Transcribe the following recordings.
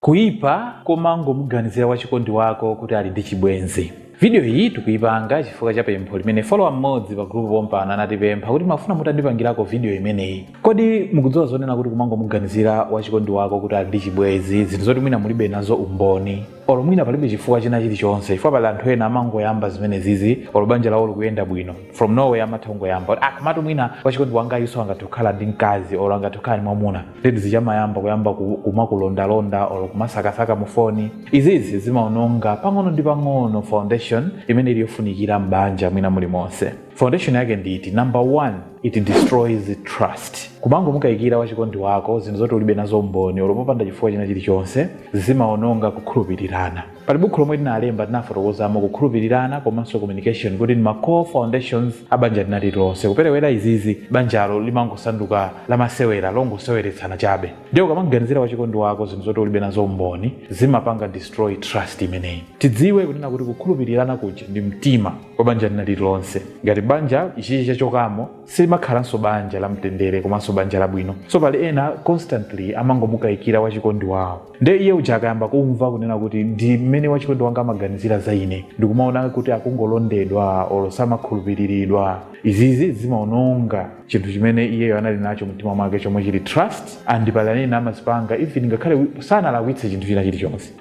Kuipa kumangomuganizira wachikondi wako kuti ali ndi chibwenzi. Video iyi tikuipanga chifukwa cha pempho limene follower mmodzi pa group pompano anatipempha kuti timafuna mutandipangirako video imeneyi. Kodi mukudziwa zonena kuti kumangomuganizira wachikondi wako kuti ali ndi chibwenzi zinthu zoti mwina mulibe nazo umboni? Olo mwina palibe chifukwa china chilichonse chifukwa pali anthu ena amangoyamba zimenezizi olo banja lawo likuyenda bwino from nowhere amatha kungoyamba kuti ah komatu mwina wachikondi wangayuso angathe kukhala ndi mkazi olo angathe kukhala ndi mwamuna. nde chizamayamba kuyamba ku- kumakulondalonda or kumasakasaka mu foni izizi zimaononga pang'ono ndi pang'ono foundation imene ili yofunikira m'banja mwina mulimonse foundation yake ndi iti number one it destroys trust kumangomukayikira wachikondi wako zinthu zoti ulibe nazo umboni olo popanda chifukwa china chilichonse zimaononga kukhulupirirana Pali bukhu lomwe tinalemba tinafotokozamo kukhulupilirana komanso communication kuti ndi ma core foundations a banja lina lililonse. Kuperewera izizi banjalo limangosanduka la masewera, longoseweretsana chabe. Ndiye ukamamganizira wachikondi wako zinthu zoti ulibe nazo umboni, zimapanga destroy trust imeneyi. Tidziwe kunena kuti kukhulupilirana kuja ndi mtima wa banja lina lililonse. Ngati banja ichichi chachokamo, silimakhalanso banja la mtendere komanso banja labwino. So pali ena constantly amangomukaikira wachikondi wawo. nde iye uja akayamba kumva kunena kuti ndi mmene wachikondi wanga amaganizira za ine ndikumaona kuti akungolondedwa olo samakhulupiriridwa izizi zimaononga chinthu chimene iyeyo anali nacho mumtima mwake chomwe chili trust and pali ena amazipanga even ngakhale wi- sanalakwitse chinthu china chilichonse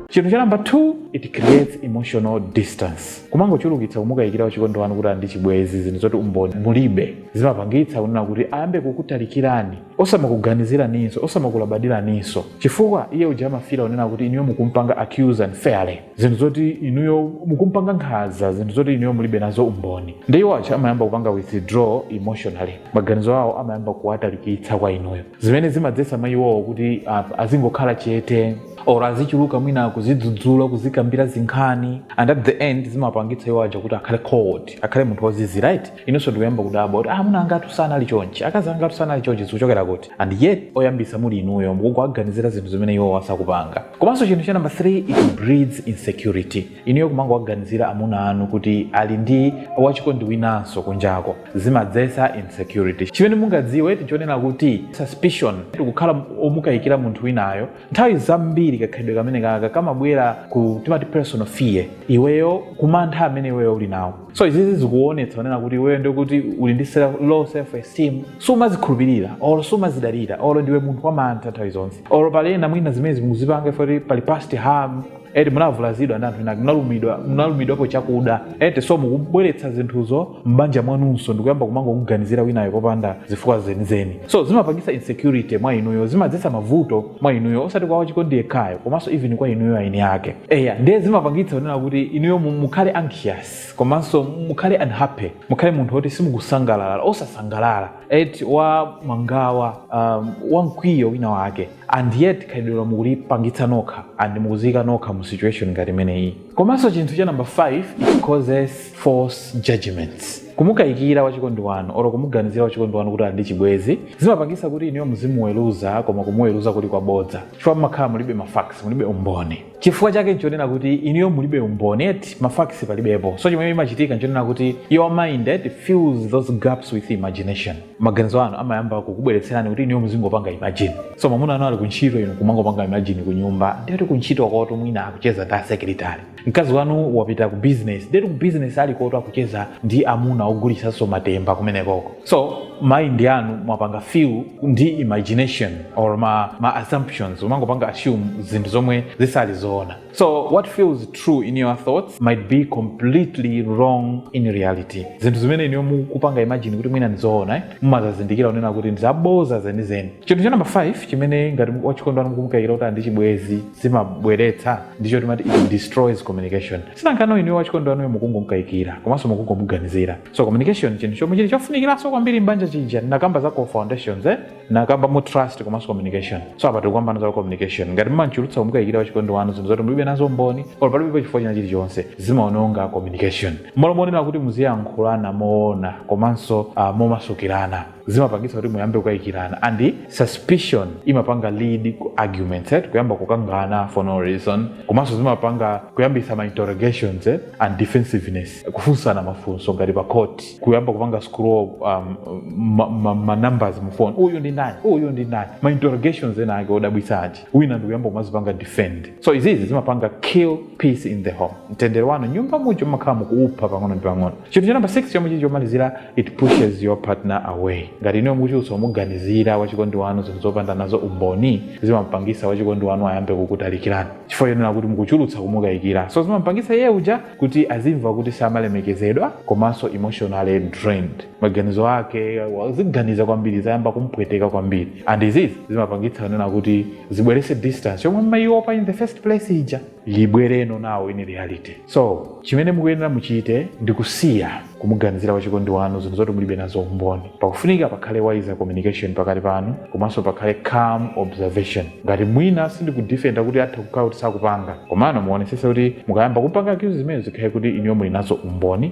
chinthu cha namba 2 it creates emotional distance kumangochulukitsa kumukayikira wachikondi wanu kuti ali ndi chibwezi zinthu zoti umboni mulibe zimapangitsa kunena kuti ayambe kukutalikirani osamakuganiziraninso osamakulabadiraninso chifukwa iye uja amafila kunena kuti inuyo mukumpanga accuse unfairly zinthu zoti inuyo mukumpanga nkhaza zinthu zoti inuyo mulibe nazo umboni nde iwo aja amayamba kupanga withdraw emotionally maganizo awo amayamba kuwatalikitsa kwa inuyo zimene zimadzetsa mwa iwowo kuti ah, azingokhala chete or azichuluka mwina kuzidzudzula kuzikambira zinkhani and at the end zimapangitsa iwo aja kuti akhale cold akhale munthu wozizi right inunso ndikuyamba kudabwa kuti amuna angatu sanali chonchi akazi angatu sanali chonchi zikuchokera kuti and yet oyambisa muli inuyo mukuwaganizira zinthu zimene iwo asakupanga komanso chinthu cha namba 3 it breeds insecurity inuyo kumangowaganizira amuna anu kuti ali ndi wachikondi winanso kunjako zimadzetsa insecurity chimene mungadziwe nchonena kuti suspicion ndikukhala omukayikira munthu winayo nthawi zambiri kakhalidwe kamene kaka kamabwera ku timati personal fear iweyo kumantha amene iweyo uli nawo so izizi zikuonetsa kunena kuti iweyo ndikuti uli ndi self, low self esteem sumazikhulupirira or sumazidalira or ndiwe munthu wamantha nthawi zonse or pali ena mwina zimenezi amazipanga chifukwa choti pali past harm eti munavulazidwa ndi anthu ena munalumidwa munalumidwapo chakuda eti so mukubweretsa zinthuzo m'banja mwanunso ndikuyamba kumangokuganizira winayo popanda zifukwa zenizeni so zimapangisa insecurity mwa inuyo zimadzetsa mavuto mwa inuyo osati kwa wachikondi yekhayo komanso even kwa inuyo eni ake eya ndiye zimapangitsa kunena kuti inuyo mu- mukhale anxious komanso mukhale unhappy mukhale munthu woti simukusangalala osasangalala eti wa mangawa um, wa mkwiyo wina wake and yet khalidwelo mukulipangitsa nokha and mukuziika nokha mu situation ngati imeneyi komanso chinthu cha number 5 it causes false judgments kumukayikira wachikondi wanu olo kumuganizira wachikondi wanu kuti ali ndi chibwezi zimapangisa kuti inuyo muzimuweruza koma kumuweruza kuja kwabodza chifukwa mumakhala mulibe mafacts mulibe umboni chifukwa chake nchonena kuti inuyo mulibe umboni eti mafacts palibepo so chimene imachitika nchonena kuti your mind eti fills those gaps with imagination maganizo anu amayamba kukubweretserani kuti inuyo muzingopanga imagine so mwamuna anu ali kuntchito inu kumangopanga imagine kunyumba ndekuti kuntchito kotu mwina akucheza ndi asekretari mkazi wanu wapita ku business ndekuti ku business aliko kotu akucheza ndi amuna ogulitsanso matemba kumenekoko so mind yanu mwaipanga fill ndi imagination or ma, ma assumptions umangopanga assume zinthu zomwe zisali zoona so what feels true in your thoughts might be completely wrong in reality zinthu zimene inuyo mukupanga imagine kuti mwina ndizoona eh? mumazazindikira kunena kuti ndizaboza zenizeni chinthu cha namba 5 chimene ngati wachikondi wanu mukumukayikira kuti ali ndi chibwezi zimabweretsa ndichoti timati it destroys communication si nanga ano inuyo wachikondi wanuyo mukungomkayikira komanso mukungomuganizira so communication chinthu chomwe chili chofunikiranso kwambiri m'banja chija nakamba za core foundations eh? nakambamo trust komanso communication so apa tikukambana za communication ngati mumachulutsa kumukayikira wachikondi wanu zinthu zoti mulibe nazo umboni or palibepo chifukwa china chilichonse zimaononga communication mmalo monena kuti muziyankhulana moona komanso uh, momasukirana zimapangitsa kuti muyambe kukayikirana and suspicion imapanga lead ku arguments eh? kuyamba kukangana for no reason komanso zimapanga kuyambitsa ma interrogations eh? and defensiveness kufunsana mafunso ngati pa court kuyamba kupanga scroll um, ma, ma, ma numbers mu phone uyu ndi ndani uyu ndi ndani ma interrogations ena ake odabwitsa eti wina ndikuyamba kumazipanga defend so izizi zimapanga kill peace in the home mtendere wa m'nyumba muja mumakhala mukuupha pang'ono ndi pang'ono chinthu cha namba 6 chomwe chili chomalizira it pushes your partner away ngati inuyo mukuchulutsa kumuganizira wachikondi wanu zinthu zopanda nazo umboni zimampangisa wachikondi wanu ayambe kukutalikirani chifukwa chonena kuti mukuchulutsa kumukayikira so zimampangisa iye uja kuti azimva kuti samalemekezedwa komanso emotionally drained maganizo ake waziganiza kwambiri zayamba kumpweteka kwambiri and izizi zimapangitsa kunena kuti zibwerese distance yomwe mumayiopa in the first place ija ibwerenso nawo in reality so chimene mukuyenera muchite ndi kusiya kumuganizira wachikondi wanu zinthu zoti mulibe nazo umboni pakufunika pakhale wise communication pakati panu komanso pakhale calm observation ngati mwina sindikudifenda kuti atha kukhala kuti sakupanga komano muonesese kuti mukayamba kumpanga accuse zimenezi zikhale kuti inuyo muli nazo umboni